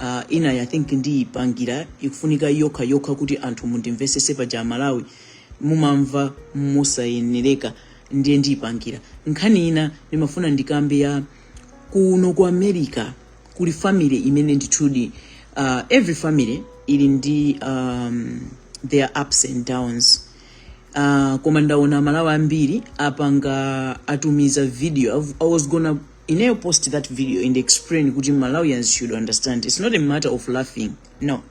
Uh, inayi I think ndiyipangira ikufunika yokha yokha kuti anthu mundimvesese paja amalawi mumamva mosayenereka ndiye ndiyipangira nkhani ina ndimafuna ndikambe ya kuno ku america kuli family imene ndithudi uh, every family ili ndi um, their ups and downs uh, koma ndaona amalawi ambiri apanga atumiza video I've- i was gonna ineyo post that video and explain kuti malawians should understand it's not a matter of laughing no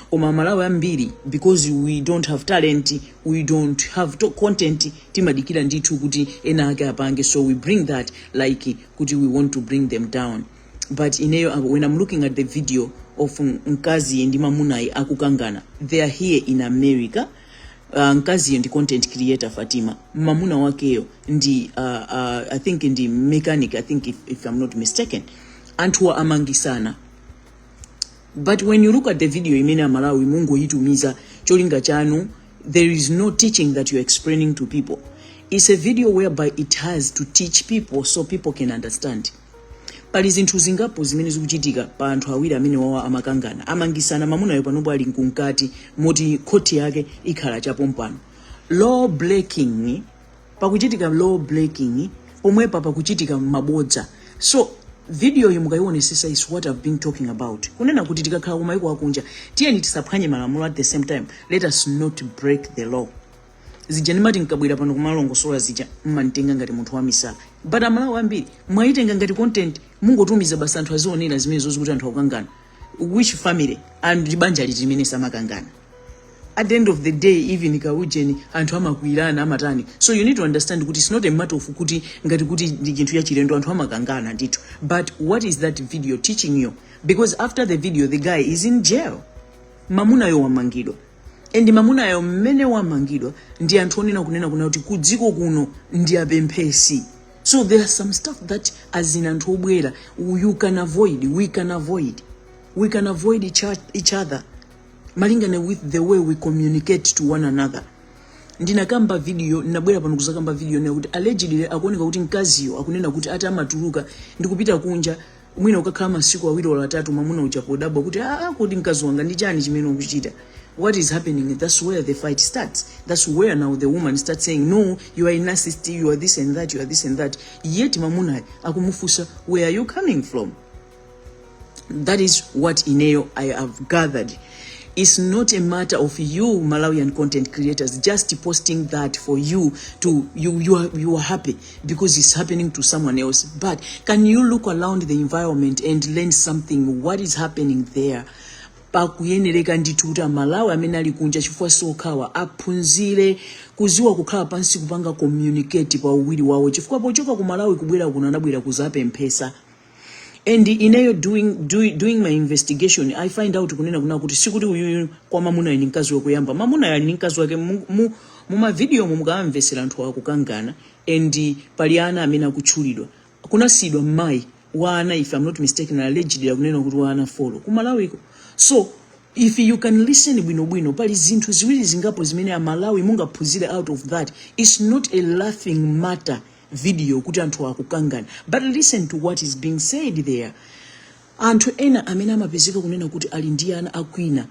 koma malawi ambiri because we don't have talent we don't have content timadikira ndithu kuti ena ake apange so we bring that like kuti we want to bring them down but ineyo uh, when i'm looking at the video of mkaziyi ndi mamunayi akukangana they are here in america Uh, mkaziyo ndi content creator Fatima, mamuna wakeyo ndi uh, uh, I think ndi mechanic I think if, if I'm not mistaken, anthuwa amangisana but when you look at the video imene amalawi mungoyitumiza cholinga chanu there is no teaching that you're explaining to people it's a video whereby it has to teach people so people can understand pali zinthu zingapo zimene zikuchitika pa anthu awiri amene wawa amakangana amangisana mamunayo panopo ali mkunkati moti khoti yake ikhala chapompano law breaking pakuchitika law breaking pomwepa pakuchitika mabodza so videoyi mukayionesesa is what i've been talking about kunena kuti tikakhala kumayiko akunja tiyeni tisaphwanye malamulo at the same time let us not break the law zija ndimati nkabwera pano kumalongosola zija mmanditenga ngati munthu wamisala but amalawi ambiri mwayitenga ngati content mungotumiza basi anthu azionera zimenezo zakuti anthu akukangana which family and ndi banja liti limene samakangana at the end of the day even kaujeni anthu amakwirana amatani so you need to understand kuti it's not a matter of kuti ngati kuti ndi chinthu chachilendo anthu amakangana ndithu but what is that video teaching you because after the video the guy is in jail mamunayo wamangidwa and mamunayo mmene wamangidwa ndi anthu onena kunena kunena kuti kudziko kuno ndi opemphetsa so there are some stuff that as ena anthu obwera you can avoid we can avoid we can avoid each, each other malingana with the way we communicate to one another ndinakamba video ndinabwera pano kuzakamba videoyo kuti allegedly akuoneka kuti mkaziyo akunena kuti ati amatuluka ndikupita kunja mwina kukakhala masiku awiri olo atatu mwamuna uja kudabwa kuti aa kodi mkazi wanga ndi chani chimene ukuchita what is happening that's where the fight starts that's where now the woman starts saying no you are a narcissist you are this and that you are this and that yet mamunayo akumufunsa where are you coming from that is what ineyo i have gathered it's not a matter of you malawian content creators just posting that for you to you you are, you are happy because it's happening to someone else. But can you look around the environment and learn something? What is happening there? pakuyenereka ndithu kuti amalawi amene ali kunja chifukwa osati okhawa aphunzire kuziwa kukhala pansi kupanga communicate pa uwiri wawo chifukwa pochoka ku malawi kubwera kuno anabwera kuzapemphesa and ineyo during my investigation i find out kunena kunena kuti sikuti uyuyu kwa mamunayo ni mkazi wakuyamba mamunayo ali ni mkazi wake mumavidiyo umo mukaamvesera anthu akukangana and pali ana amene akutchulidwa kuti anasiidwa mmayi wa ana if i'm not mistaken allegedly akunena kuti wa ana four kumalawiko so if you can listen bwinobwino pali zinthu ziwiri zingapo zimene amalawi mungaphunzire out of that its not a laughing matter video kuti anthu akukangana but listen to what is being said there anthu ena amene amapezeka kunena kuti ali ndi ana akwina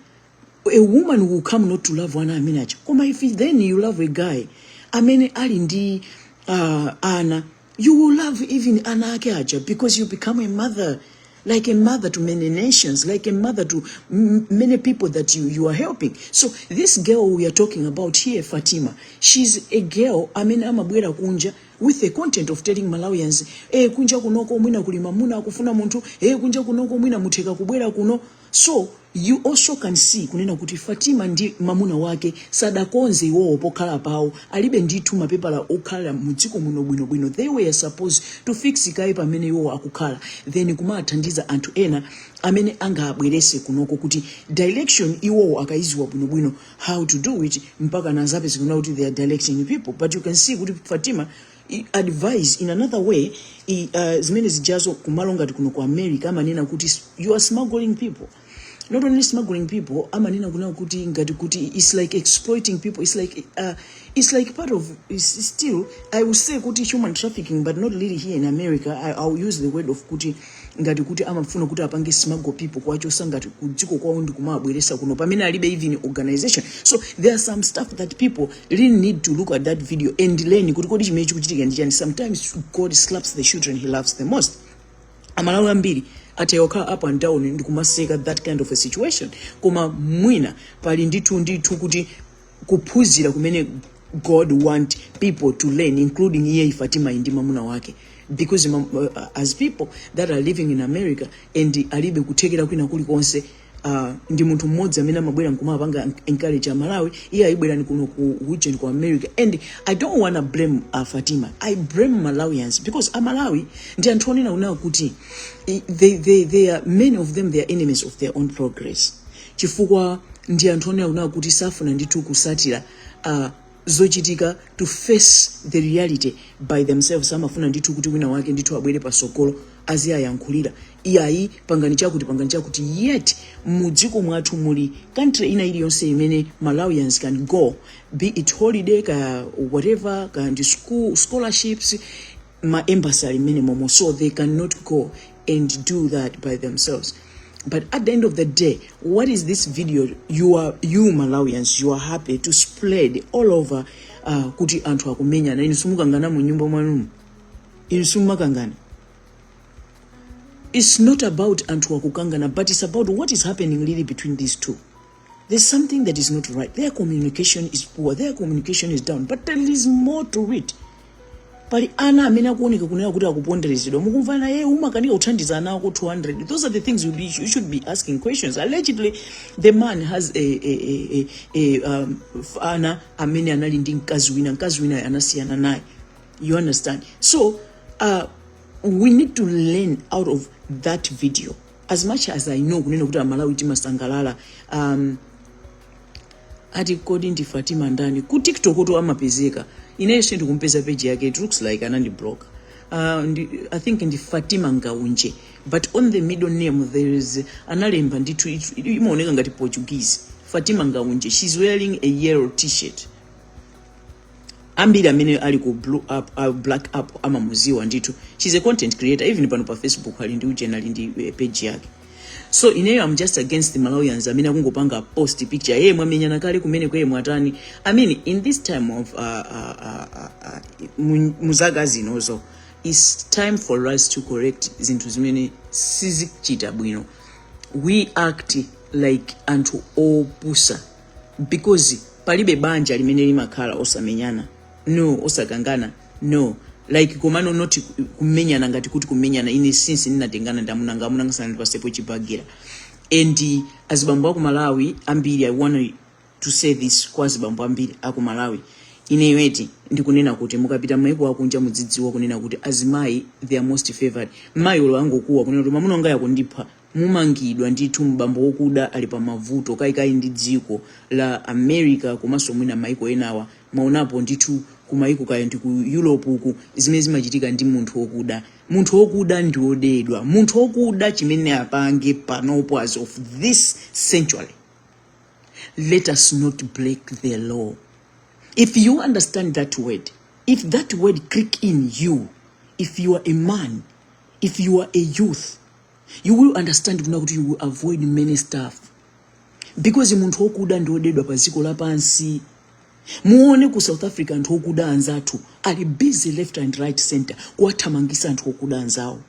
a woman will come not to love ana amene aja koma if then you love a guy amene ali ndi uh, ana you will love even ana ake aja because you become a mother like a mother to many nations, like a mother to m- many people that you, you are helping. So this girl we are talking about here, Fatima, she's a girl, I mean, I'm a amabwera kunja with the content of telling Malawians, eh, kunja kunoko mwina kulimamuna kufuna muntu, eh, kunja kunoko mwina muteka kubwera kuno. So You also can see kunena kuti Fatima ndi mamuna wake sadakonze iwowo pokhala pawo alibe ndithu mapepala okhala mu dziko muno bwino bwino they were supposed to fix kaye pamene iwowo akukhala then kumathandiza anthu ena amene angabwerese kunoko kuti direction iwowo akayiziwa bwino bwino how to do it mpaka nazapezekana kuti they are directing people but you can see kuti Fatima I- advise in another way i- uh, zimene zijazo kumalo ngati kuno ku america amanena kuti s- you are smuggling people not only smuggling people amanena kunena kuti ngati kuti its like exploiting people its like, uh, it's like part of it's it's still i will say kuti human trafficking but not really here in america i, I will use the word of kuti ngati kuti amafuna kuti apange smuggle people kuwachosa ngati kudziko kwawo ndi kumawabweresa kuno pamene alibe even organization so there are some stuff that people really need to look at that video and learn kuti kodi chimene chikuchitika ndi chani sometimes god slaps the children he loves the most amalawi ambiri atha kukhala up and down ndikumaseka that kind of a situation koma mwina pali ndithu ndithu kuti kuphunzira kumene god want people to learn including iyeyo fatima ndi mamuna wake because mam, uh, as people that are living in america and alibe kuthekera kwina kulikonse uh, ndi munthu mmodzi amene amabwera nkumapanga encourage amalawi iyayi bwerani kuno ku region ku america and i don't wanna blame uh, fatima i blame malawians because amalawi ndi anthu onena kunena kuti i- they, they, they are, many of them they are enemies of their own progress chifukwa ndi anthu onena kunena kuti safuna ndithu kusatira uh, zochitika to face the reality by themselves amafuna ndithu kuti wina wake ndithu abwere pasogolo aziwayankhulira iyayi pangani chakuti pangani chakuti yet mudziko mwathu muli country ina iliyonse imene malawians can go be it holiday ka whatever ka ndi school scholarships ma embassy ali minimumo so they cannot go and do that by themselves but at the end of the day what is this video you are you malawians you are happy to spread all over uh, kuti anthu akumenyana inu simukangana mu nyumba mwanumu inu simumakangana it's not about anthu akukangana but it's about what is happening really between these two There's something that is not right. Their communication is poor. Their communication is down. But there is more to it. pali ana amene akuoneka kuna kuti akuponderezedwa mukumva naye umakanika kuthandiza ana ako 200 those are the things you, be, you should be asking questions allegedly the man has a, a, a, a, a um, ana amene anali ndi mkazi wina mkazi wina anasiyana naye you understand so uh, we need to learn out of that video as much as i know kunena kuti amalawi timasangalala um, ati kodi ndi fatima ndani ku tiktok kuti amapezeka ineyo sindikumpeza page yake it looks like anandibloka uh, ndi, i think ndi fatima ngaunje but on the middle name there is analemba ndithu it- it- imaoneka ngati portuguese fatima ngaunje she's wearing a yellow t-shirt ambiri amene ali ku blue up uh, black up amamuziwa ndithu she's a content creator even pano pa facebook ali ndi ujeni ali ndi eh, page yake so ineyo am just against the malawians amene akungopanga post picture yeye mwamenyana kale kumeneko eee mwatani i mean in this time of uh, uh, uh, uh, uh, mu- mu zaka zinozo its time for us to correct zinthu zimene sizichita bwino we act like anthu opusa because palibe banja limene limakhala osamenyana no osakangana no like komano not kumenyana ngati kuti kumenyana ine since ndinatengana ndi amunanga amunanga sanandipasepo chibagira and uh, azibambo aku malawi ambiri i want to say this kwa azibambo ambiri aku malawi ineyo eti ndikunena kuti mukapita maiko akunja mudzidziwa kunena kuti azimayi they are most favored mayi wolo angokuwa kunena kuti mamuna wanga akundipha mumangidwa ndithu m'bambo wokuda ali pa mavuto kayakaya ndi dziko la America komanso mwina maiko enawa mwaonapo ndithu kumaiko kaya ndi ku Europe uku zimene zimachitika ndi munthu wokuda munthu wokuda ndi wodedwa munthu wokuda chimene apange panopo as of this century let us not break the law if you understand that word if that word click in you if you are a man if you are a youth you will understand kuna kuti you will avoid many stuff because munthu wokuda ndi odedwa pa dziko lapansi muone ku south africa anthu okuda anzathu ali busy left and right center kuwathamangisa anthu okuda anzawo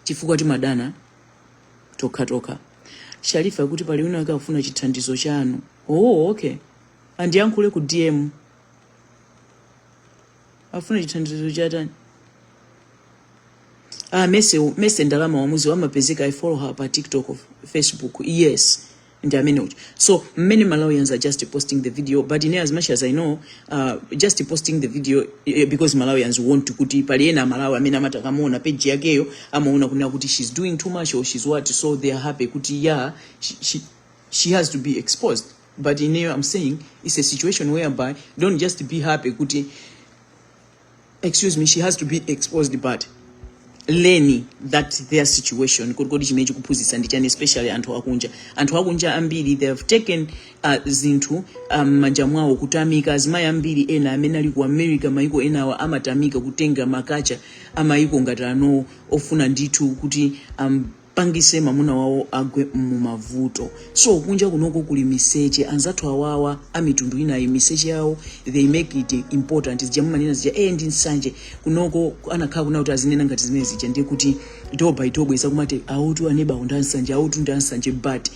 chifukwa timadana tokha tokha sharifa kuti pali wina akafuna chithandizo chanu oh okay andiyankhule ku dm afuna chithandizo chatani ah mese mese ndalama wamuzi wamapezeka i follow her pa tiktok facebook yes ndi amene uja so many malawians are just posting the video but in as much as i know uh, just posting the video eh, because malawians want to kuti pali ena malawi amene amati akamaona page yakeyo amaona kunena kuti she's doing too much or she's what so they are happy kuti yeah she, she, she has to be exposed but ineyo am saying its a situation whereby don't just be happy kuti excuse me she has to be exposed but learning that their situation kuti kodi chimene chikuphunzitsa ndi chani especially anthu akunja anthu akunja ambiri they have taken uh, zinthu mmanja um, mwawo kutanthauza azimayi ambiri ena amene ali ku america mayiko enawa amathamangira kutenga makacha amayiko ngati anowo ofuna ndithu kuti um, pangise mamuna wawo agwe mumavuto so kunja kunoko kuli miseche anzathu awawa amitundu inayi miseche yawo they make it important zija mumanena zija eye ndi nsanje kunoko anakhala kuna kuti azinena ngati zimene zija ndiye kuti iwowo pa iwowo bweza kumati awotu anebawo ndi ansanje awotu ndi ansanje but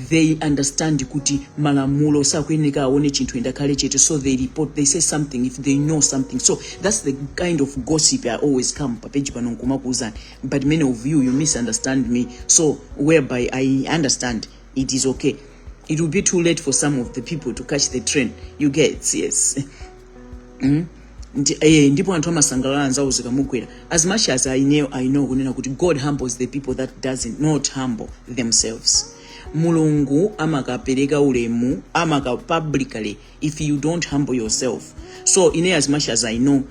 they understand kuti malamulo sakuyeneka aone chinthu and akhale chete so they report they say something if they know something so that's the kind of gossip i always come papeji pano nkumakuuzani but many of you you misunderstand me so whereby i understand it is okay it will be too late for some of the people to catch the train you get yes mm? Eh, ndipo anthu amasangalala anzawo zikamugwera as much as i know, I know kunena kuti god humbles the people that doesn't not humble themselves mulungu amakapereka ulemu amaka publicly if you don't humble yourself so ine as much as i know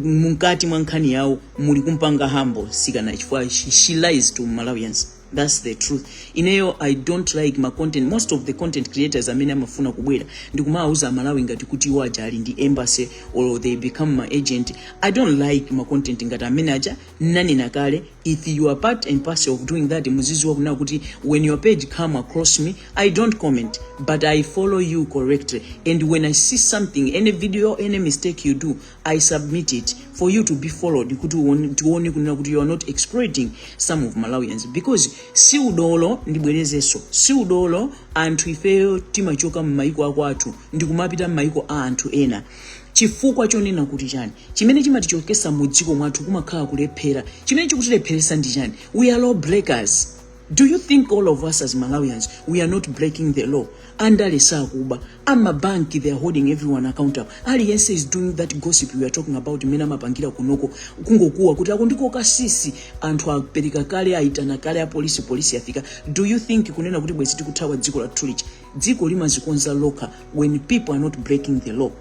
mukati mwa nkhani yawo muli kumpanga humble mtsikana chifukwa she, she lies to malawians that's the truth ineyo i don't like ma content most of the content creators amene amafuna kubwera ndikumawauza amalawi ngati kuti iwo aja ali ndi embassy or they become ma agent i don't like ma content ngati amene aja Nnanena kale if you are part and parcel of doing that muziziwa kunena kuti when your page come across me I don't comment but I follow you correctly and when I see something any video any mistake you do I submit it for you to be followed kuti tione kunena kuti you are not exploiting some of Malawians because si udolo ndibwerezeso si udolo anthu ifeyo timachoka mmaiko akwathu ndikumapita mmaiko a anthu ena chifukwa chonena kuti chani chimene chimatichokesa mu dziko mwathu kumakhala kulephera chimene chikutilepheresa ndi chani we are law breakers do you think all of us as malawians we are not breaking the law andale sakuba amabanki they are holding everyone accountable aliyense is doing that gossip we are talking about imene amapangira kunoko kungokuwa kuti akundikokasisi anthu apereka kale aitana kale apolisi polisi yafika do you think kunena kuti bwezi tikuthawa dziko lathu lija dziko limazikonza lokha when people are not breaking the law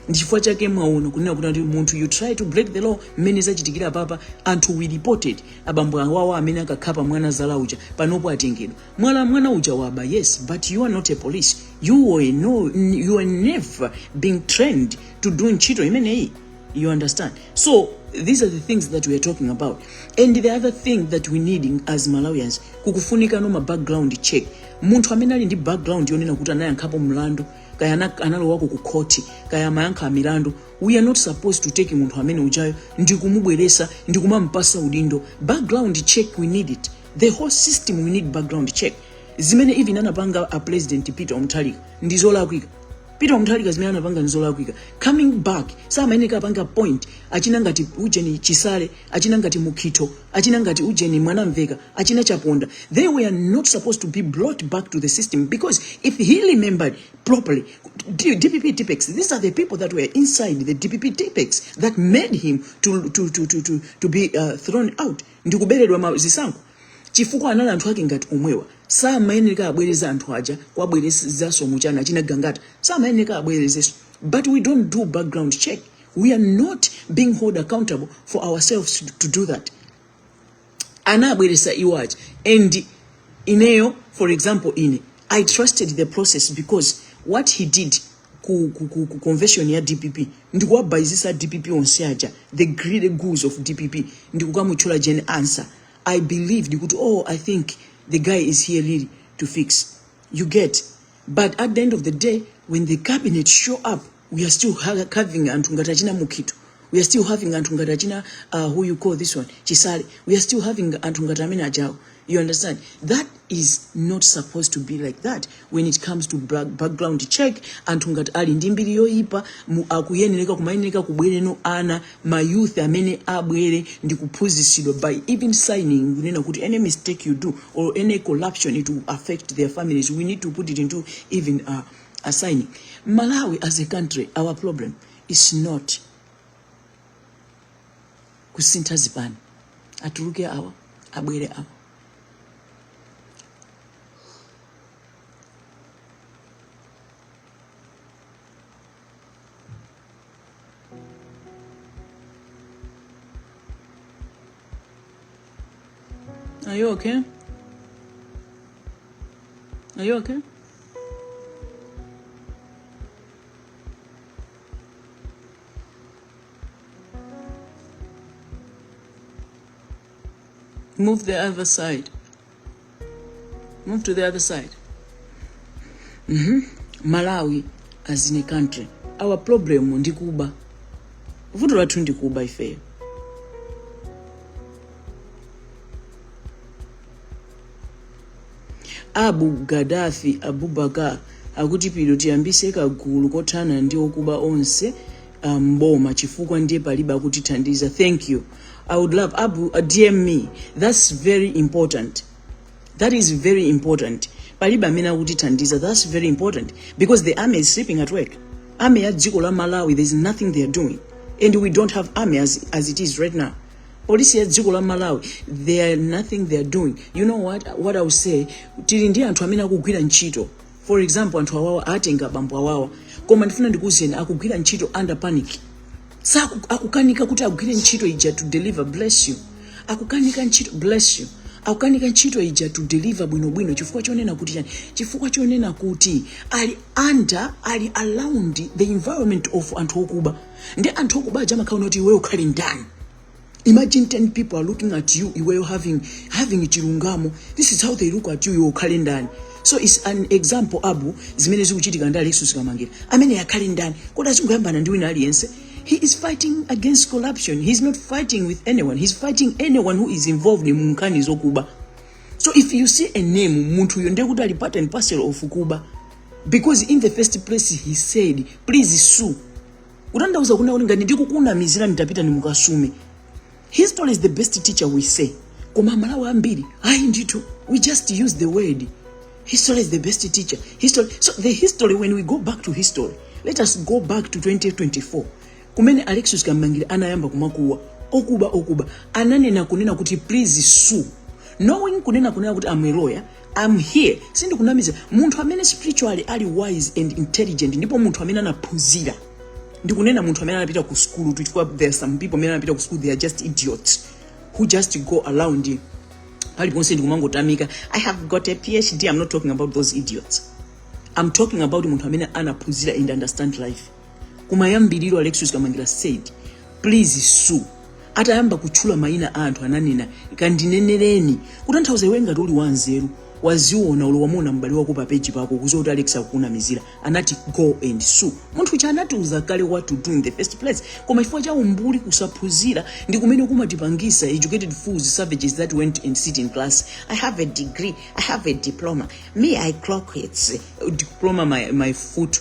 ndichifukwa chake mwaona kunena kuti kuti munthu you try to break the law mmene zachitikira papa anthu we reported a Bambe awawa amene anakhapa mwana zala uja panopo atengedwa mwala mwana uja waba yes but you are not a police you were no, you are never being trained to do ntchito imeneyi You understand? So these are the things that we are talking about. And the other thing that we need as Malawians, kukufunikano ma background check. Munthu amene ali ndi background yonena kuti anayankhapo mlandu, kaya analowako ku khoti, kaya amayankha milandu. We are not supposed to take munthu amene ujayo ndi kumubweresa ndi kumampasa udindo. Background check we need it. The whole system we need background check. Zimene even anapanga a president Peter Mutharika ndi zolakwika. peter mutharika zimene anapanga nzolakwika coming back samayeneka apange appoint achina ngati ujeni chisale achina ngati mukhitho achina ngati ujeni mwanamveka achina chaponda they were not supposed to be brought back to the system because if he remembered properly D- dpp tipex these are the people that were inside the dpp tipex that made him to, to, to, to, to, to be uh, thrown out ndikuberedwa ma- zisankho chifukwa anali anthu ake ngati omwewa samayeneka abwereze anthu aja kuwabwerezaso muchana achina gangata samayeneka abwerezeso but we don't do background check we are not being hold accountable for ourselves to do that anabweresa iwo aja and ineyo for example ine i trusted the process because what he did ku, ku, ku, ku convention ya dpp ndikuwabayizisa dpp onse aja the greedy goose of dpp ndikukamutchula jen answer i believed kuti oh i think the guy is here really to fix you get but at the end of the day when the cabinet show up we are still having anthu ngati achina mukhito we are still having anthu ngati achina uh, who you call this one chisale we are still having anthu ngati amene ajawo you understand that is not supposed to be like that when it comes to background check anthu ngati ali ndi mbiri yoyipa akuyenereka kumayenereka kubwereno ana mayouth amene abwere ndi kuphunzitsidwa by even signing kunena kuti any mistake you do or any corruption it will affect their families we need to put it into even uh, a signing malawi as a country our problem Its not kusintha zipani atuluke awa abwere awo. Are you okay? Are you okay? Move to the other side. Move to the other side. Mm -hmm. Malawi as in a country. Our problem ndi kuba. Vuto lathu ndi kuba ifeyo. Abu Gaddafi Abubakar akuti pilo tiyambise kagulu kothana ndi okuba onse ah, mboma chifukwa ndiye palibe akutithandiza thank you i would love abu uh, dm me that's very important that is very important palibe amene akutithandiza that's very important because the army is sleeping at work army ya dziko la malawi there's nothing they are doing and we don't have army as, as it is right now polisi ya dziko la malawi they are nothing they are doing you know what, what i will say tili ndi anthu amene akugwira ntchito for example anthu awawa atenga bambo awawa koma ndifuna ndikuwuzeni akugwira ntchito under panic akukanika kuti agwire ntchito ija to deliver bless you akukanika ntchito bless you akukanika ntchito ija to deliver bwinobwino chifukwa chonena kuti chani chifukwa chonena kuti ali under ali around the environment of anthu okuba ndi anthu okuba aja amakaona kuti iweyo ukhale ndani imagine 10 people are looking at you iweyo having, having chilungamo this is how they look at you iwe ukhale ndani so its an example abu zimene zikuchitika ndi alexius kamangira amene akhale ndani kodi azingoyambana ndi wina aliyense he is fighting against corruption he is not fighting with anyone he is fighting anyone who is involved in munkhani zokuba so if you see a name munthuyo ndekuti ali part and parcel of kuba because in the first place he said please sue kutanthauza kunena kuti ngati ndikukunamizira mutapita mukasume history is the best teacher we say koma malawi ambiri ayi ndithu we just use the word history is the best teacher history so the history when we go back to history let us go back to 2024 kumene alexius kamangire anayamba kumakuwa okuba okuba ananena kunena kuti please sue knowing kunena kunena kuti am a lawyer am here sindikunamiza munthu amene spiritually ali wise and intelligent ndipo munthu amene anaphunzira ndikunena munthu amene anapita ku sukulu chifukwa there are some people amene anapita ku sukulu they are just idiots who just go around paliponse ndikumangotamika i have got a phd i'm not talking about those idiots i'm talking about munthu amene anaphunzira and understand life kumayambiriro alexius kamangira said please sue atayamba kutchula mayina a anthu ananena kandinenereni kutanthauza iwe ngati uli wanzeru waziona olo wamuona m'bale wako pa peji pako kuziwa kuti alex akukunamizira anati go and sue munthu uja anatiuza kale what to do in the first place koma chifukwa cha umbuli kusaphunzira ndi kumene kumatipangisa educated fools savages that went and sit in class i have a degree i have a diploma me i clock its diploma my, my foot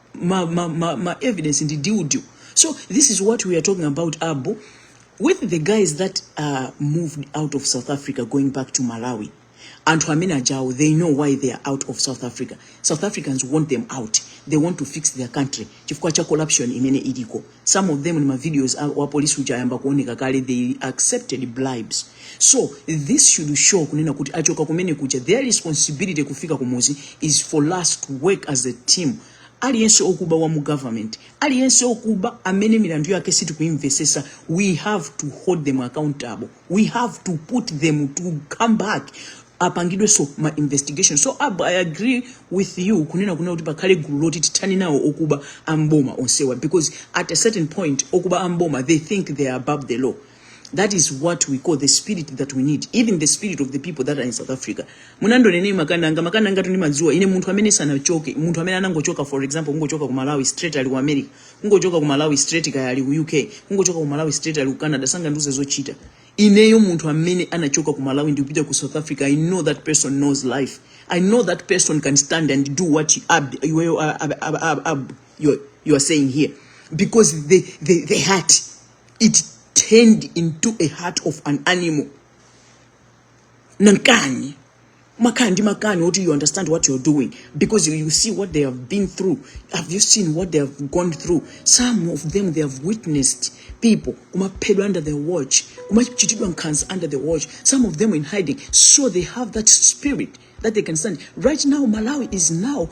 ma, ma, ma, ma evidence ndi deal deal so this is what we are talking about abo with the guys that are moved out of south africa going back to malawi anthu amene ajawo they know why they are out of south africa south africans want them out they want to fix their country chifukwa cha corruption imene iliko some of them and ma videos wa police uja ayamba kuoneka kale they accepted bribes so this should show kunena kuti achoka kumene kuja their responsibility kufika kumuzi is for us to work as a team aliyense okuba wa mu government aliyense okuba amene milandu yake sitikuimvesesa we have to hold them accountable we have to put them to come back apangidwe so ma investigation so ab, i agree with you kunena kunena kuti pakhale gulu loti tithani nawo okuba amboma onsewa because at a certain point okuba amboma they think they are above the law that is what we call the spirit that we need even the spirit of the people that are in south africa munandionanji makananga makananga tu ndimadziwa ine munthu amene sanachoke munthu amene anangochoka for example kungochoka ku malawi straight ali ku america kungochoka ku malawi straight kaya ali ku uk kungochoka ku malawi straight ali ku canada sangandiuze zochita ineyo munthu amene anachoka ku malawi ndikupita ku south africa i know that person knows life i know that person can stand and do what you, ab, you, you, are- ab, ab, ab, ab, you, are- you are saying here because the, the, the heart it turned into a heart of an animal nankani makhala ndi makani oti you understand what you're doing because you, you see what they have been through have you seen what they have gone through some of them they have witnessed people kumaphedwa under their watch kumachitidwa nkhanza under their watch some of them in hiding so they have that spirit that they can stand right now malawi is now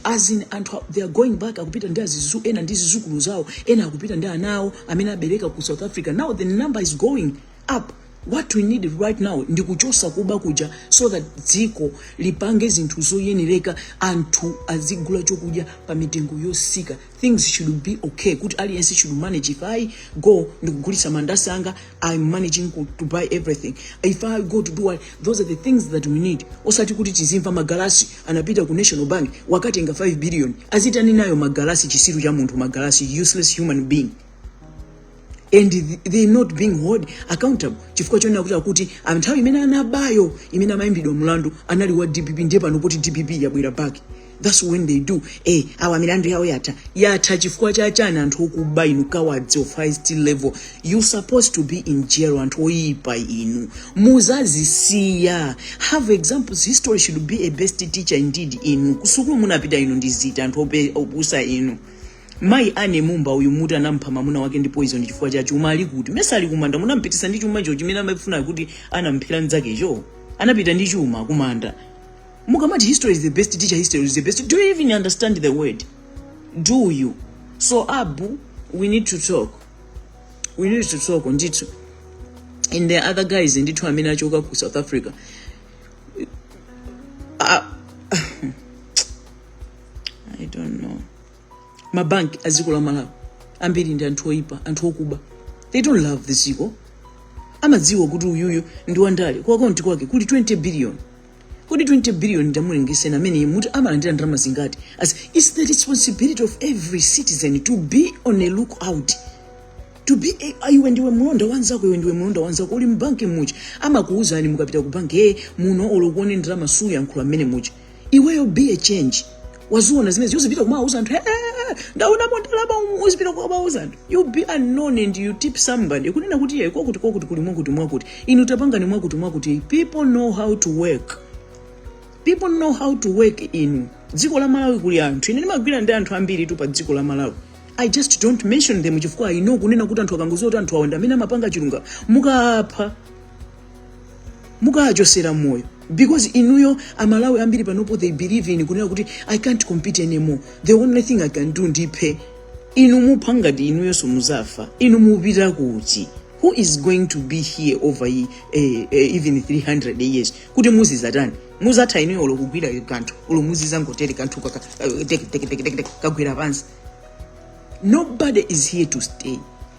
as in anthu a- they are going back akupita ena ndi zizukulu zawo ena akupita ndi ana awo amene abereka ku south africa now the number is going up what we need right now ndi kuchosa kuba kuja so that dziko lipange zinthu zoyenereka anthu azigula chokudya pa mitengo yosika things should be okay kuti aliyense should manage if i go ndikugulitsa mandasi anga i'm managing ku- to buy everything if i go to do what those are the things that we need osati kuti tizimva magalasi anapita ku national bank wakatenga 5 billion azitani nayo magalasi chitsiru cha munthu magalasi useless human being and they not being held accountable chifukwa chonena kuti akuti ah, nthawi imene anabayo imene amayimbidwa mlandu anali wa dpp ndiye pano poti dpp yabwera back that's when they do hey, eh, awa milandu yawo yatha yatha chifukwa chachani anthu okuba inu cowards of highest level you supposed to be in jail anthu oyipa inu muzazisiya have examples history should be a best teacher indeed inu kusukulu munapita inu ndizitsiru anthu opusa inu Mayi Anne Mumba uyu muti anampha mamuna wake ndi poison chifukwa cha chuma ali kuti mesa ali kumanda munampitisa ndi chumacho chimene amafuna kuti anamphera nzakecho anapita ndi chuma kumanda mukamati history is the best teacher history is the best do you even understand the word do you so abu we need to talk we need to talk ndithu and the other guys ndithu amene achoka ku south africa uh, i don't know mabanki a dziko la malawi ambiri ndi anthu oyipa anthu okuba they don't love the dziko amadziwa kuti uyuyu ndi wandale ku akaunti kwake kuli 20 billion kodi 20 billion tamulengezeni amene muti amalandira ndalama zingati as its the responsibility of every citizen to be on a look out to be a, a- iwe ndiwe mlonda wanzako iwe ndiwe mlonda wanzako uli mbanki muja amakuwuzani mukapita ku banki ee muno olo uone ndalama usayankhule mmene muja iweyo be a change waziona zimene iwe uzipita kumawauza anthu "Eh, eh, eh, ndaonamo ndalama umu," uzipita kumawauza anthu you be unknown and you tip somebody kunena kuti iye kwakuti kwakuti kuli mwakuti mwakuti inu tapangani mwakuti mwakuti people know how to work people know how to work in dziko la malawi kuli anthu ine ndimagwira ndi anthu ambiritu pa dziko la malawi i just don't mention them chifukwa i know kunena kuti anthu akangoziwa kuti anthu awa ndi amene amapanga chilungamo mukapha mukawachosera moyo because inuyo amalawi ambiri panopo they believe in kunena kuti i can't compete anymore the only thing i can do ndiphe inu mupha ngati inuyo simuzafa inu mupita kuti who is going to be here over eh, eh, even 300 years kuti muzizatani muzatha inuyo olo kugwira kanthu olo muzizangotere kanthu eh, kagwira pansi nobody is here to stay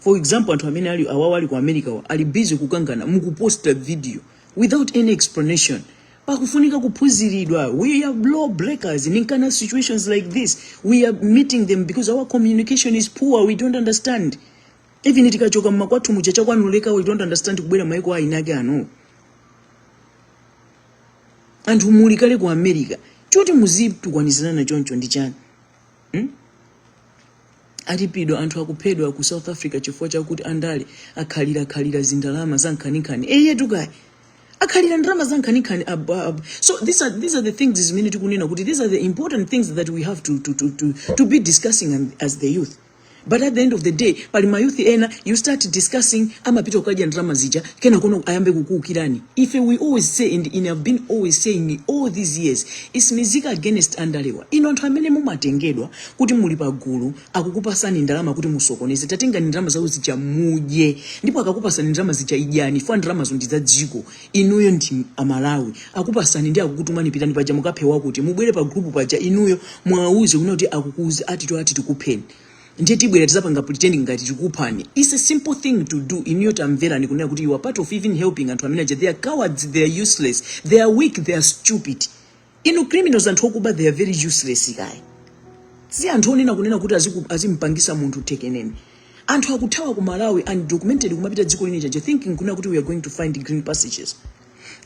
for example anthu amene awawa ali ku america wa ali busy kukangana mukuposta video without any explanation pakufunika kuphunziridwa we are law breakers in kind of situations like this we are meeting them because our communication is poor we don't understand even tikachoka mmakwathu muja chakwanuleka we don't understand kubwera maiko ainake ano anthu muli kale ku america choti muzitukwanizana choncho ndi chani Hmm? Alipira anthu akuphedwa ku South Africa chifukwa chakuti andale akhalirakhalira zindalama za nkhaninkhani. Eyetu kaya. Akhalira ndalama za nkhaninkhani. ab- ab- So these are these are the things zimene tikunena kuti these are the important things that we have to to to to, to be discussing and- as the youth. But at the end of the day pali mayouth ena you start discussing amapita kukadya ndalama zija kenakono ayambe kukuukirani ife we always say and ine have been always saying all these years is mizika against andalewa ino anthu amene mumatengedwa kuti muli pagulu akakupasani ndalama kuti musokoneze tatengani ndalama zawo zija mudye ndipo akakupasani ndalama zija idyani chifukwa ndalamazo ndi za dziko inuyo ndi amalawi akupasani ndiye akukutumani pitani paja mukaphe wakuti mubwere pa group paja inuyo muwauze kunena kuti mukuuze atito ati tikupheni ndiye tibwera tizapanga pretending ngati tikuphani its a simple thing to do inuyo tamverani kunena kuti you are part of even helping anthu amene aja they are cowards they are useless they are weak they are stupid ndi ma criminals anthu okuba they are very useless guys si anthu onena kunena kuti aziku- azimpangisa munthu tikunena anthu akuthawa ku malawi undocumented kumapita dziko lina chabe thinking kunena kuti we are going to find greener pastures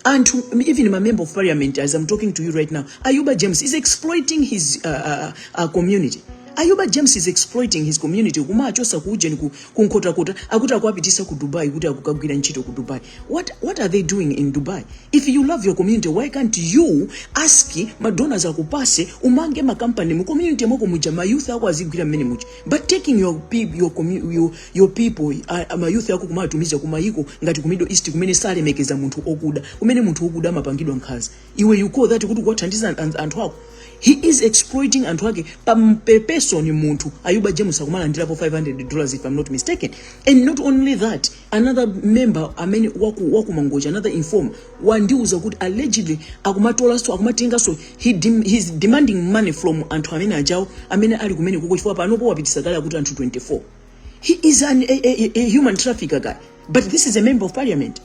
anthu even my member of parliament as i'm talking to you right now ayuba james is exploiting his uh, uh, uh, community ayuba james is exploiting his community kumachosa kuujeni ku- kunkhotakota akuti akuwapitisa ku dubai kuti akukagwira ntchito ku dubai What, what are they doing in Dubai? If you love your community, why can't you ask madonors akupase umange makampani mu community mwako muja mayouth ako azigwira mmenemuja but taking your, peop- your, commu- your, your people uh, mayouth ako kumawatumiza kumayiko ngati ku middle east kumene salemekeza munthu okuda kumene munthu wokuda amapangidwa nkhanza iwe you call that kuti kuwathandiza an- an- anthu ako he is exploiting anthu ake per person munthu ayuba james akumalandirapo 500 dollars if i'm not mistaken and not only that another member amene waku, waku mangochi another informer wandiuza kuti allegedly akumatolanso akumatenganso he dem, he's demanding money from anthu amene ajawo amene ali kumene kuko chifukwa panopo wapitisa kale akuti anthu 24 he is an, a, a, a human trafficker guys but this is a member of parliament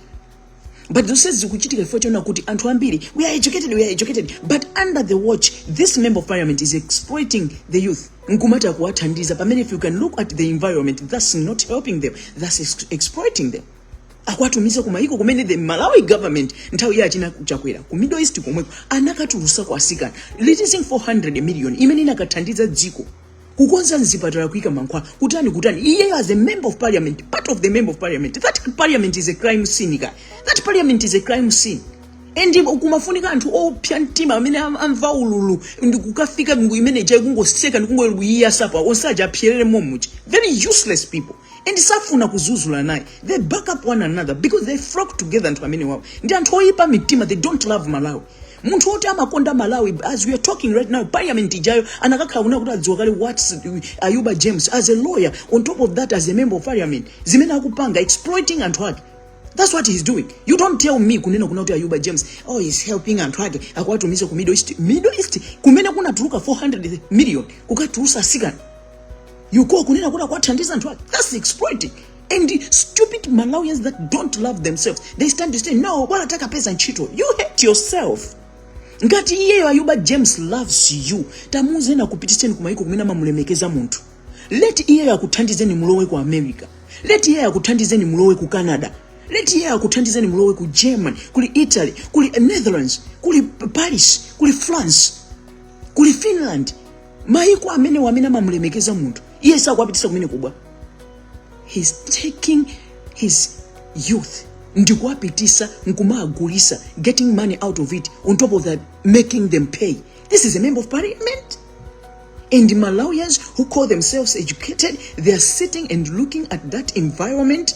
but zonse zikuchitika chifukwa chonena kuti anthu ambiri we are educated we are educated but under the watch this member of parliament is exploiting the youth nkumati akuwathandiza pamene if you can look at the environment that's not helping them that's ex- exploiting them akuwatumiza kumayiko kumene the malawi government nthawi ya achina chakwera ku middle east komweko anakatulusa atsikana releasing 400 million imene ikanathandiza dziko kukonza mzipatala kuika mankhwala kutani kutani iyeyo as a member of parliament part of the member of parliament that parliament is a crime scene okay that parliament is a crime scene and kumafunika anthu opsa mtima amene am- amva ululu ndikukafika imene ija kungoseka ndikungowayasa onse aja apsere momuja very useless people and safuna kudzudzulana aye they back up one another because they flock together anthu amenewawo ndi anthu oyipa mitima they don't love malawi munthu woti amakonda malawi as we are talking right now parliament ijayo akanakhala kuna kuti adziwa kale what ayuba james as a lawyer on top of that as a member of parliament zimene akupanga exploiting anthu ake That's what he's doing. You don't tell me kunena kuna kuti Ayuba James, oh he's helping anthu ake akuwatumiza ku Middle East. Middle East kumene kunatuluka 400 million kukatulutsa atsikana. You go kunena kuti akuwathandiza anthu ake. That's exploiting. And the stupid Malawians that don't love themselves, they stand to say, no, bwana takapeza ntchito. You hate yourself. Ngati iyeyo Ayuba James loves you, tamuuzeni akupititseni kumayiko kumene amamulemekeza munthu. Let iyeyo akuthandizeni mulowe ku America. Let iyeyo akuthandizeni mulowe ku Canada. Let iyeyo akuthandizeni mulowe ku Germany, kuli Italy, kuli Netherlands, kuli Paris, kuli France, kuli Finland. mayiko amene wamene amamulemekeza munthu iye sakuwapitisa kumene kubwa he's taking his youth ndikuwapitisa nkumagulisa getting money out of it on top of that making them pay this is a member of parliament and malawians who call themselves educated they are sitting and looking at that environment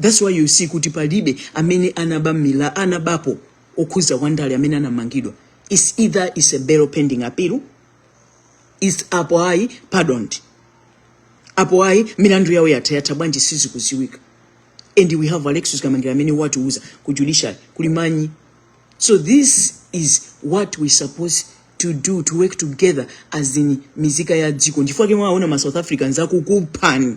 that's why you see kuti palibe amene anaba mila anabapo okhuza wandale amene anamangidwa it's either it's a bail pending appeal is apo ayi pardoned apo ayi milandu yawo yatha yatha bwanji sizikuziwika and we have alexis kamangira amene watiuza kuti judiciary kuli manyi so this is what we supposed to do to work together as in nzika ya dziko chifukwa chake mwaona ma south africans akukuphani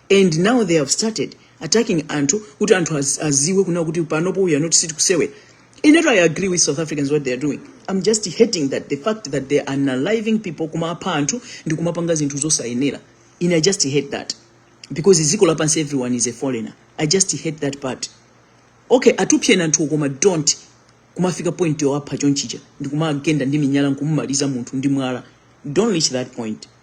and now they have started attacking anthu kuti anthu az, aziwe kuna kuti panopo we are not sit kusewera inetu i agree with south africans what they are doing i'm just hating that the fact that they are unaliving people kumapha anthu ndi kumapanga zinthu zosayenera ine i just hate that because dziko lapansi everyone is a foreigner i just hate that part okay athupsyeni anthu koma don't kumafika point yowapha chonchija ndi kumagenda ndi miyala nkumumaliza munthu ndi mwala don't reach that point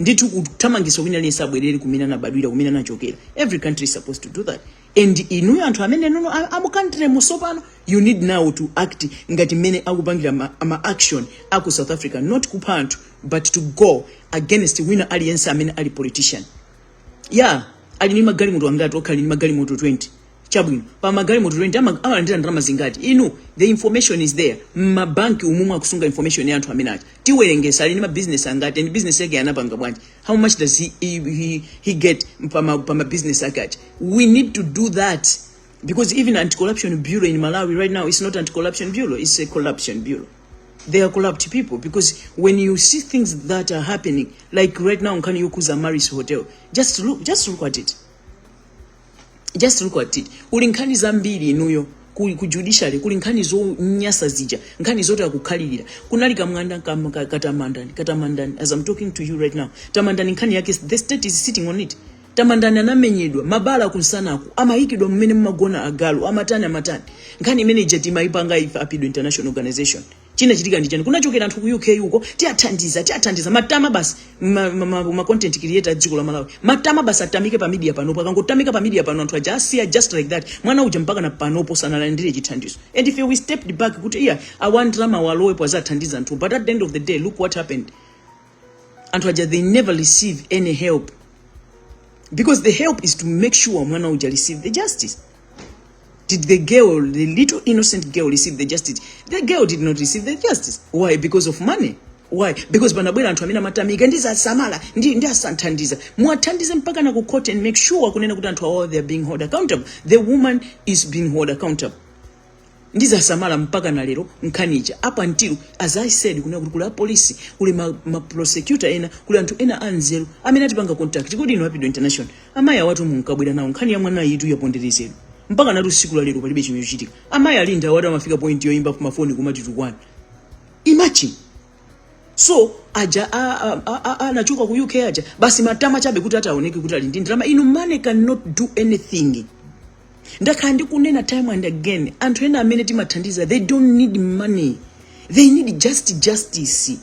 ndithu kuthamangisa wina aliyense abwerere kumene anabadwira kumene anachokera every country is supposed to do that and inuyo anthu amenenu no muli mu country mo so pano you need now to act ngati mmene akupangira ma, ma action aku south africa not kupha anthu but to go against wina aliyense amene ali politician yeah ali ni magalimoto angati okhala ni magalimoto 20 chabwino pa magalimoto 20 ama- amalandira ndalama zingati inu the information is there mmabanki umu mukusunga information ya anthu amene aja tiwerengetse ali ndi mabizinesi angati and business yake anapanga bwanji how much does he, he, he, he get pa ma- pa mabizinesi ake aja we need to do that because even anti-corruption bureau in malawi right now is not anti-corruption bureau it's a corruption bureau they are corrupt people because when you see things that are happening like right now nkhani yokhudza amaryllis hotel just look, just look at it just look at it kuli nkhani zambiri inuyo ku, ku judiciary kuli nkhani zonyasa zija nkhani zoti akukhalirira kunali kamwana kam- ka- katamandani katamandani as i'm talking to you right now tamandani nkhani yake the state is sitting on it tamandani anamenyedwa mabala kumsanaku amayikidwa mmene mumagona agalu amatani amatani nkhani imene ija timayipanga ife apidwa international organization chinachitika ndi chani kunachokera anthu ku uk uko tiathandiza tiathandiza matama basi ma, ma, ma, ma content creator a dziko la malawi matama basi atamike pa media panopo akangotamika pa media pano anthu aja asiya just like that mwana uja mpaka na panopo sanalandire chithandizo and if we stepped back kuti iya a ndalama walowepo azathandize anthu but at the end of the day look what happened anthu aja they never receive any help because the help is to make sure mwana uja receive the justice did the girl the little innocent girl receive the justice the girl did not receive the justice why because of money why because panabwera anthu amene amatamika ndizasamala ndi ndi asathandiza muwathandize mpaka na ku court and make sure kunena kuti anthu awawa they are being held accountable the woman is being held accountable ndizasamala mpaka na lero nkhani ija up until as i said kunena kuti kuli apolisi kuli ma, ma prosecutor ena kuli anthu ena anzeru amene atipanga contact kodi ino apidwa international amayi awatu munkabwera nawo nkhani ya mwana iyitu yaponderezedwa mpaka na tsiku la lero palibe chimene chachitika amayi Linda awatu amafika point yoyimba pamafoni kumatitukwana imagine so aja anachoka ku uk aja basi matama chabe kuti atioonekere kuti ali ndi ndalama inu money cannot do anything ndakhala ndikunena time and again anthu ena amene timathandiza they don't need money they need just justice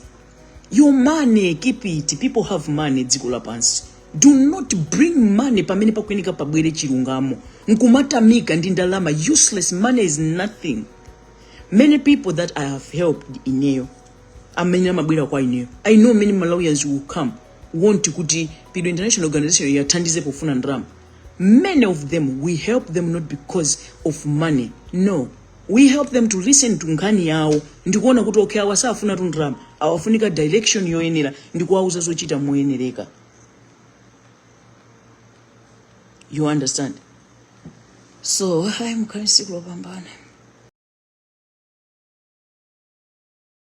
your money keep it people have money dziko lapansi do not bring money pamene pakuyeneka pabwere chilungamo nkumatamika ndi ndalama useless money is nothing many people that i have helped ineyo amene amabwera kwa ineyo i know many malawians will come want kuti pidwa international organization yathandize pofuna ndalama Many of them we help them not because of money no we help them to listen to nkhani yawo ndikuona kuti okay awa safuna tundalama awafunika direction yoyenera ndikuwauza zochita moyenereka you understand so ayi mukhale ndi tsiku lopambana